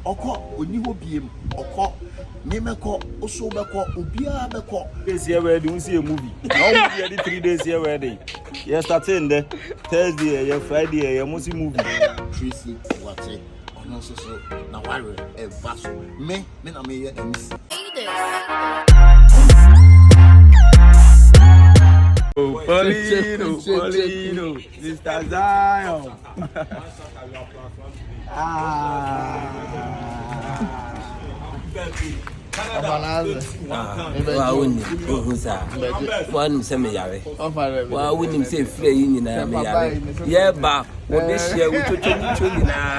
Ɔkɔ, ɔnni hɔ biem, ɔkɔ, me mɛkɔ, oso bɛkɔ, obiara bɛkɔ. Days yɛ wedding, nsi yɛ movie. Na wɔn movie yɛ de three days yɛ wedding. Yɛ starting dɛ, Thursday yɛ yɛ Friday yɛ yɛ mo si movie. Tracy wate, ɔno nso so na ware ɛba so. Me, me na me yɛ MC. Polino, Polino. Mr. Zion. wa wonim ohu saa woanom sɛ meyare wa wonim sɛ ɛfirɛ yi nyinaa meyare yɛba wɔbɛhyia wotwotwo wotwo nyinaa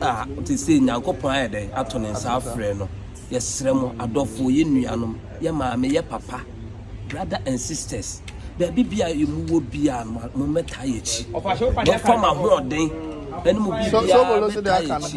a ɔte sɛ Nyankopɔn ayɛ dɛn ato ne nsa afrɛ no. Yɛsrɛ mo adɔfoɔ, yɛn nuanom, yɛn maame, yɛn papa, brother and sisters, baabi biara a mo wɔ biara no, mo mmɛtaa yɛn akyi. Mo fam ahoɔden ɛne mo biribiara mmɛtaa yɛn akyi.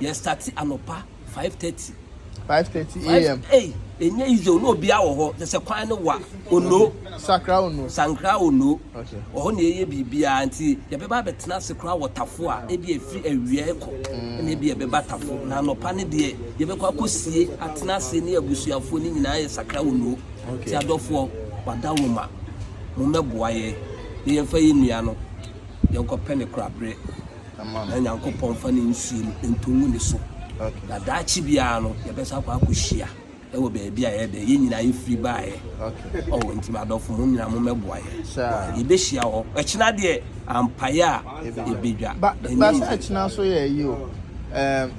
Yɛ starte anɔpa five thirty. Five thirty a.m. Ei, ɛnyɛ easy o, na obiara wɔ hɔ, kyɛ sɛ kwan no wa, Ono. Sakra Ono. Sankra Ono. Okay. Wɔ hɔ na yɛyɛ biribiara nti yɛbɛba abɛtena ase koraa wɔ tafo a ebi efiri awia ɛkɔ mm. na ebi ɛbɛba tafo na anɔpa ne deɛ yɛbɛkɔ akɔsie atena ase ne abusuafoɔ ne nyinaa yɛ Sakra Ono. Okay. Ti adɔfoɔ wada wɔn ma mo mmɛboa yɛ ne yɛmfa yɛ nnua no yɛnkɔpɛ ne koraberɛ. na Nyankopɔn mfa ne nsuo no nto ngu ne so. Na daakye biara no, yɛbɛsa akɔ akɔhyia wɔ baabi a ɛyɛ dɛ. Yɛn nyinaa yɛfiri baeɛ. Oh, nti m'adɔfo, mo nyinaa mommɛboa yɛn. Okay, yɛbɛhyia hɔ. Ɛkyena deɛ, ampaeɛ a ɛbɛdwa. Ba, ba sɛ ɛkyena nso yɛ ayi o. Ɛɛm,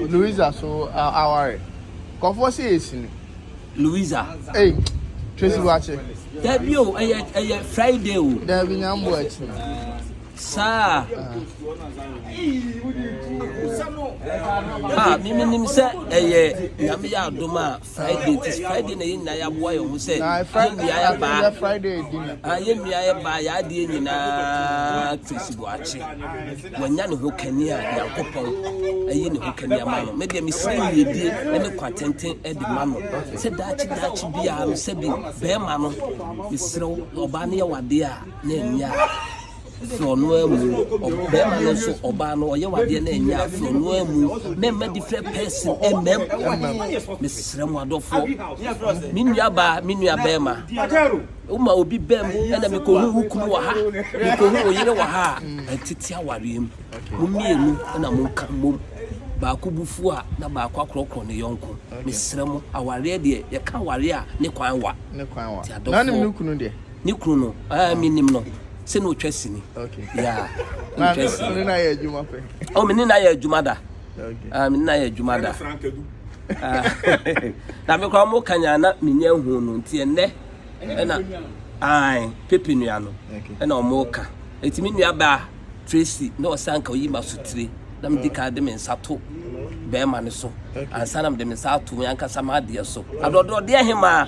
Louisa so aware. Kɔfoɔ sɛ yɛsi no. Louisa. Ei, Tracy Boakye. Dabi o, ɛyɛ, ɛyɛ Friday o. Dabi, Nyamboa akyi. saa a a mimi nim sɛ ɛyɛ nyame yɛ adom a friday ti friday na yɛ nyinaa yɛaboa yɛn ho sɛ yɛnnua yɛbaa yɛnnua yɛbaa yɛ adeɛ nyinaa krisi boakye wanya ne ho kani a nyankopɔn ayi ne ho kani ama no medeɛ mesrɛ yiedie ne kwatenten de ma no sɛ daakye daakye biara no sɛ bi bɛrima no mesrɛ ɔbaa no yɛ wadeɛ a na ɛnyɛ a frɛ no ara mu ɔbarima no nso ɔbaa no ɔyɛ wadeɛ na ɛnyɛ a frɛ no ara mu mɛma different person ɛmɛm mesrɛ mo adɔfoɔ me nuabaa me nuabɛrima woma obi bɛm ɛna mekɔhu wo kunu wɔ ha mekɔhu wo yere wɔ ha a ɛtete awareɛ mu mo mmienu ɛna monka mmom baako bufuo a na baako akorɔkorɔ ne yɔnko mesrɛ mo awareɛ deɛ yɛka awareɛ a ne kwan wa ne kwan wa na ne kunu deɛ ne kunu no ah, ah. menim no sɛ na ɔtwa sini mene na yɛ adwuma pɛ oh, mene na yɛ adwuma da ah, mene na yɛ adwuma da na mekora ɔmo kanya na menya hu no nti ɛnɛ ɛna ae pepe nua no ɛna ɔmo ka ɛti me nua baa tracy na ɔsan ka ɔyi ma so tire na mede ka de me nsa to bɛrima no so ansa na mede me nsa ato me ankasa m'adeɛ so adɔdɔdeɛ hemaa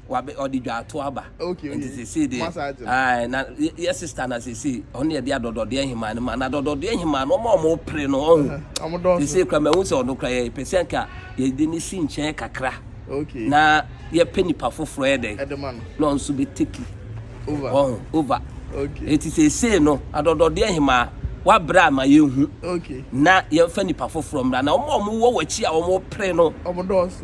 wabe ɔde dwaato aba Okay nti okay sesei deɛ masa agye no. ae na yɛ yɛ sister na sesei ɔno na yɛde adɔdɔdeɛ nhemaa no ma na adɔdɔdeɛ nhemaa no ɔmo a ɔmo pere no ɔho Ɛhɛn, ɔmo dɔɔso. sesei kora mahu sɛ ɔno kora yɛpɛ sɛ nka yɛde no si nkyɛn kakra Okay na yɛpɛ nipa foforɔ yɛ dɛn ɛde ma no na ɔno nso bɛ take over ɔho over Okay eti sesei no adɔdɔdeɛ nhemaa wabrɛ ama yɛhu Okay na yɛnfa nipa foforɔ mmra na ɔmo a ɔmo wɔ wakyi a ɔmo pere no. ɔmo dɔɔso.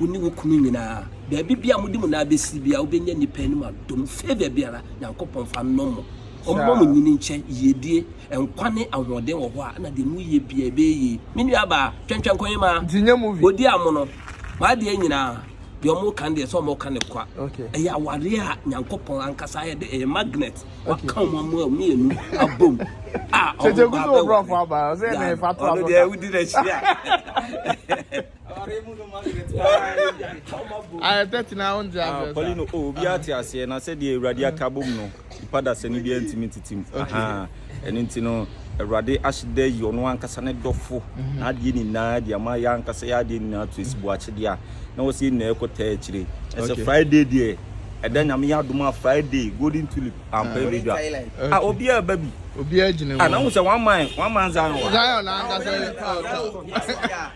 Wo ne wo kunu nyinaa, baabi biara a mode mo nan bɛsiri biara, wobɛnya nnipa anim adom, favour biara, Nyankopɔn fa nnɔ mo. Ɔmmɔ mo nyini nkyɛ, yiedie, nkwa ne ahoɔden wɔ hɔ a, na deɛ moyɛ biara ɛbɛyɛ yie. Me nuabaa, twɛntwɛn Kohima, ɔdi amono, m'adeɛ nyinaa, deɛ wɔreka no deɛ sɛ wɔreka no kwa. Ɛyɛ awareɛ a Nyankopɔn ankasa ayɛ dɛ, ɛyɛ magnet, waka wɔn mmienu abom a wɔn mma bɛware. Ɔno deɛ wodi n'akyi a. Pauline o oh, obiara te aseɛ na sɛdeɛ awurade aka bom no nipa dasani biara ntumi ntete mu ɛno nti no awurade ahyeda yi ɔno ankasa ne dɔfo mhm. na adeɛ nyinaa de ama yɛ ankasa yɛ adeɛ nyinaa to ɛsibu akyedeɛ a na wɔ sɛ nyinaa ɛkɔtaa akyire ɛsɛ friday deɛ ɛda mm. nyame yɛ adom a friday golden tulip ampa ah. ɛbɛdwa a ah, obiara ba bi obiara gyina mu ana ah, wo sɛ one man one man zion zion ankasa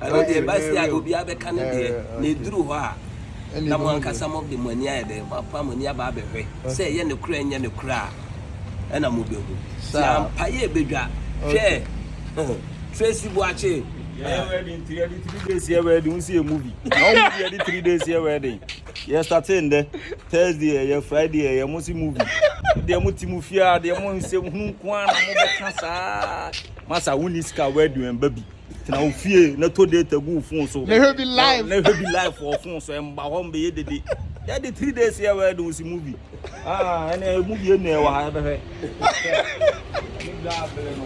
Ɛno deɛ ɛba se a obiara bɛka ne deɛ, na ɛduru hɔ a na mo ankasa mode mo ani ayɛ dɛn? Moapam mo ani aba abɛhwɛ sɛ ɛyɛ nokorɛ a ɛnyɛ nokorɛ a, ɛna mobɛhu. Se ampa yɛ ɛbɛdwa, hwɛ Tracy Boakye. Yɛyɛ wedding nti yɛde three days yɛ wedding wo si yɛ movie na wɔn movie yɛde three days yɛ wedding yɛ starting ndɛ Thursday ɛyɛ Friday ɛyɛ mo si movie deɛ mo ti mo fie a deɛ mo nsɛm hunu nko ara na mo bɛka saa masa wo ni sika wedding ɛnba bi. Tena wo fie na to data gu wo phone so. Na hwɛ bi live. Na hwɛ bi live wɔ phone so. Ɛmba hɔ mbɛyɛ dede. Yɛ de three days yɛ wɛ de wosi movie. Ah, ɛnna movie ɛnna ɛwɔ ha ɛbɛhwɛ.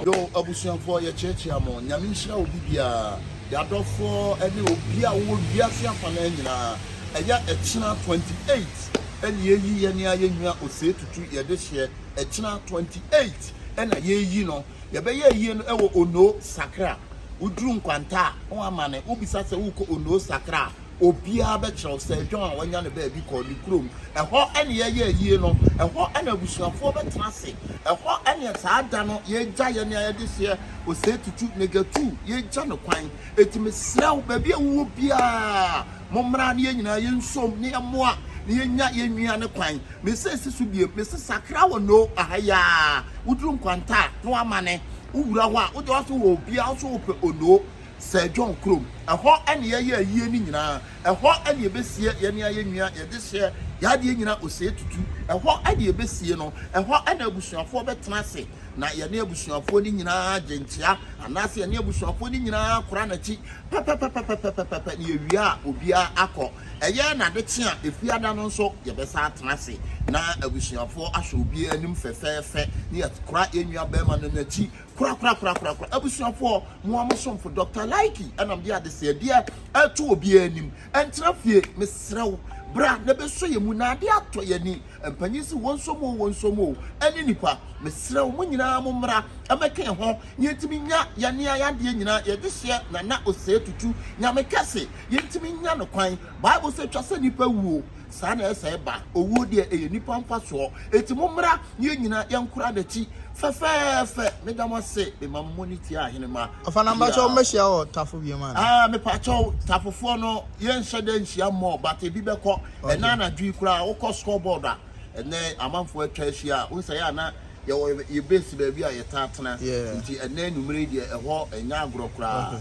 Yo abusuafoɔ yɛkyeakyea mo nyame nhyira obi biara yɛadɔfoɔ ne obi a wowɔ wiase afa no nyinaa ɛyɛ ɛkyena 28 ɛne ɛyi yɛne ayɛnwa osee tutu yɛde hyeɛ ɛkyena 28 ɛna yɛyi no Deɛ ɛbɛyɛ yie no ɛwɔ Onoo Sakra. Woduru Nkwanta a na wamane, wobisa sɛ worekɔ Onoo Sakra a, obiara bɛkyerɛ wo. Sir John a wanya ne baabi kɔ ne kurom. Ɛhɔ ne yɛyɛɛ yie no. Ɛhɔ na abusuafoɔ bɛtena ase. Ɛhɔ ne saa da no yɛgya yɛn a yɛde hyeɛ Osei Tutu, Nega Tuu, yɛgya no kwan. Enti mesrɛ wo, baabi a wowɔ biara, mommra na yɛn nyinaa yɛnsɔm na yɛmmoa na yɛnya yɛn nnuane kwan. Me se si so biem, me se sakra wɔ no aha yi aa, wo duru nkwanta a na w'amane, wo wura hɔ a wo deɛ w'ase wɔ obiaa wo so wo pɛ onoo, Sir John kurom, ɛhɔ ɛne yɛ yɛ ayie no nyinaa, ɛhɔ ɛne yɛ bɛ sie yɛ ne ayɛ nwia, yɛ de hyɛ yɛ adeɛ nyina osee tutu, ɛhɔ ɛne yɛ bɛ sie no, ɛhɔ ɛna abusuafoɔ bɛ tena ase na yɛ ne abusuafoɔ no nyinaa gye nkyea anaa se yɛ ne abusuafoɔ no nyinaa kora n'akyi pɛpɛpɛpɛpɛpɛpɛpɛ na yɛ wie a obiaa akɔ. Ɛyɛ na ade kye a, Efiada no nso, yɛbɛsan atena ase na abusuafoɔ asɔ obiara anim fɛfɛɛfɛ na yɛakora yɛn nuabarima no n'akyi korakorakorakorakora. Abusuafoɔ, mo ara mo somfo Dɔkta Laiki na mede adesɛedeɛ reto obiara anim. Ɛntena fie. Mesrɛ wo, bra na bɛsɔ yɛn mu na adeɛ atɔ yɛn ani. Mpanyin se wɔnsɔ mu oo, wɔnsɔ mu oo, ɛne nnipa. Mesrɛ wo, mo nyinaa mommra mmɛka yɛn ho na yɛntumi nya yɛn adeɛ nyinaa yɛde hyɛ Nana Osei Tutu. Nyame kɛse. yɛntumi nnya no kwan. Bible sɛ ɛtwa sɛ nnipa wuo, saa na ɛsɛe ba. Owuo deɛ ɛyɛ nnipa mfasoɔ. Enti mommra na yɛn nyinaa yɛnkora n'akyi fɛfɛɛfɛ. Meda mo ase, mema mo moni tia Ahenemma. Ɔfa na mpakyɛw wo mmɛhyia wɔ tafo biom ana. Ah mepakyɛw tafofoɔ no yɛnhyɛ da nhyia more but ebi bɛkɔ ɛnɛ anadwo yi koraa wokɔ score board a ɛnɛ amanfoɔ atwa ahyia wohu sɛ yɛ a na yɛwɔ yɛ base baabi a yɛtaa tena nti ɛnɛ anwumerɛ yi deɛ ɛhɔ ɛnyɛ agorɔ koraa.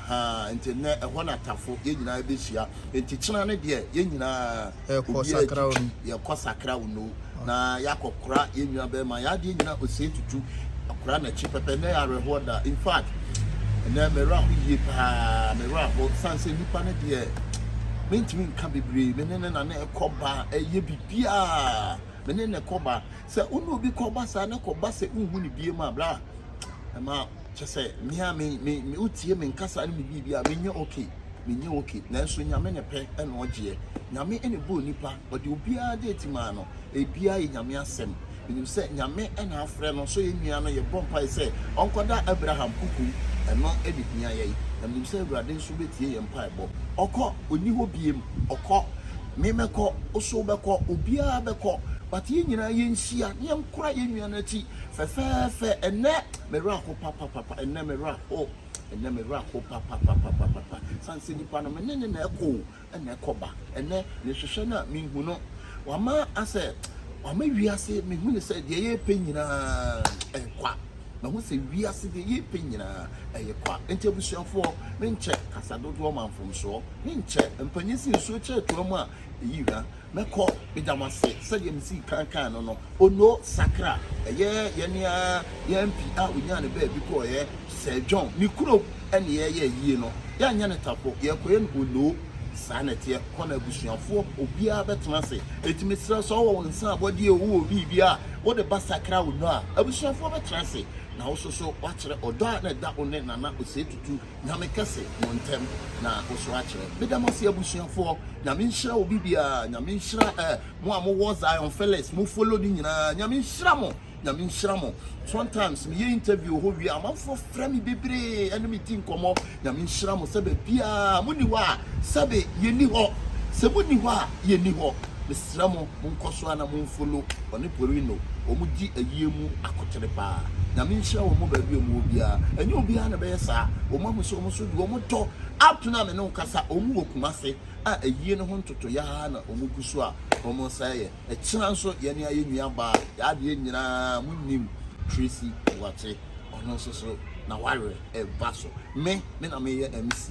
Ahaa nti nnɛ ɛhɔ na Tafo yɛn nyinaa bɛhyia nti kyena no deɛ yɛn nyinaa obiara twitwi yɛkɔ sakra wo no na yɛakɔ kora yɛn nua bɛrima yɛn adeɛ nyinaa ɔsɛe tutu akora n'akyi pɛpɛ nnɛ awerɛhoɔ da in fact nnɛ mɛwerɛ aho yie paa mɛwerɛ aho sane sɛ nnipa no deɛ mentumi nka bebree me ne ne na ne ɛkɔ ba ɛyɛ biribiaa me ne ne kɔ ba sɛ wo ne obi kɔ ba saa ne kɔ ba sɛ wohu ne bie mu a bra ɛma kyɛ sɛ me a me me me wotie me nkasa ne me biribi a menyɛ okay menyɛ okay nanso nyame ne pɛ ɛna ɔgyeɛ nyame ɛna bɔɔ nipa ɔde obiara de ti maa no ebiara yɛ nyame asɛm menim sɛ nyame ɛna afrɛ no so yɛ nua no yɛ bɔ mpae sɛ ɔnkɔda abraham kuku ɛno ɛna hia yɛn na menim sɛ awurade nso bɛtie yɛn mpaebɔ ɔkɔ ɔni hɔ biem ɔkɔ me mɛkɔ oso bɛkɔ obiara bɛkɔ but yɛn nyinaa yɛnhyia ne yɛnkora yɛn nua no akyi Fɛfɛɛfɛ, ɛnnɛ me werɛ aho papapapa, ɛnnɛ me werɛ aho, ɛnnɛ me werɛ aho papapapapapa, sane sɛ nipa no me ne no na ɛkɔ o, ɛna ɛkɔ ba, ɛnnɛ me hwehwɛ no a me nhu no, wama asɛ, wama wiase, me hu no sɛ deɛ yɛrepɛ nyinaa ɛyɛ kwa, mahu sɛ wiase deɛ yɛrepɛ nyinaa ɛyɛ kwa, nti abusuafoɔ, menkyɛ kasa dodoɔ ma mfomsoɔ, menkyɛ mpanyin si nsuo kyerɛ toa mu a ɛyi hwa. Mɛkɔ, meda mo ase, sɛdeɛ mesii kan kaa no no, Ono sakra, ɛyɛ yɛn ara yɛn MP a ɔnyaa no baabi kɔeɛ, Sir John, ne kurom ne yɛyɛɛ yie no, yɛanyɛ no tapo, yɛkɔeɛ no Ono, saa na ɛteɛ, kɔ na abusuafoɔ, obiara bɛtena ase, enti mesrɛ wo, sɛ wowɔ wo nsa abɔdeɛ oo, wowɔ biribi a wode ba sakra Ono a, abusuafoɔ bɛtena ase, na wo nso so woakyerɛ ɔdɔ a na ɛda wo ne Nana Osei Tutu Nyame kɛse mo ntɛm na oso akyerɛ. Meda mo ase abusuafoɔ. Nyame nhyira obi biara. Nyame nhyira eh, mo a mowɔ Zion Phyllis, mo follow no nyinaa. Nyame nhyira mo. Nyame nhyira mo. Sometimes meyɛ interview wɔ hɔ wie a, amanfoɔ frɛ me bebree ɛne me di nkɔmmɔ. Nyame nhyira mo sɛ baabiara moni hɔ a, sɛbe yɛni hɔ. Sɛ moni hɔ a, yɛni hɔ. Tena mo mo nkɔ so ara na mo nfolo ɔne porino ɔmo di ayie mu akotere paa nyame nhyira wɔn mo baabi ɔmo wɔ biara ɛnyɛ obiara na ɛbɛyɛ saa ɔmo ahu sɛ ɔmo nso deɛ ɔmo dɔ apena me ne wo kasa ɔmo wɔ kumase a ayie no ho ntotoyɛ ara na ɔmo gu so a ɔmo nsa yɛ ɛkyena nso yɛne ayɛ nua baa yɛ adeɛ nyinaa mo nim Tracy Boakye ɔno nso so na wawerɛ ɛba so me me na meyɛ MC.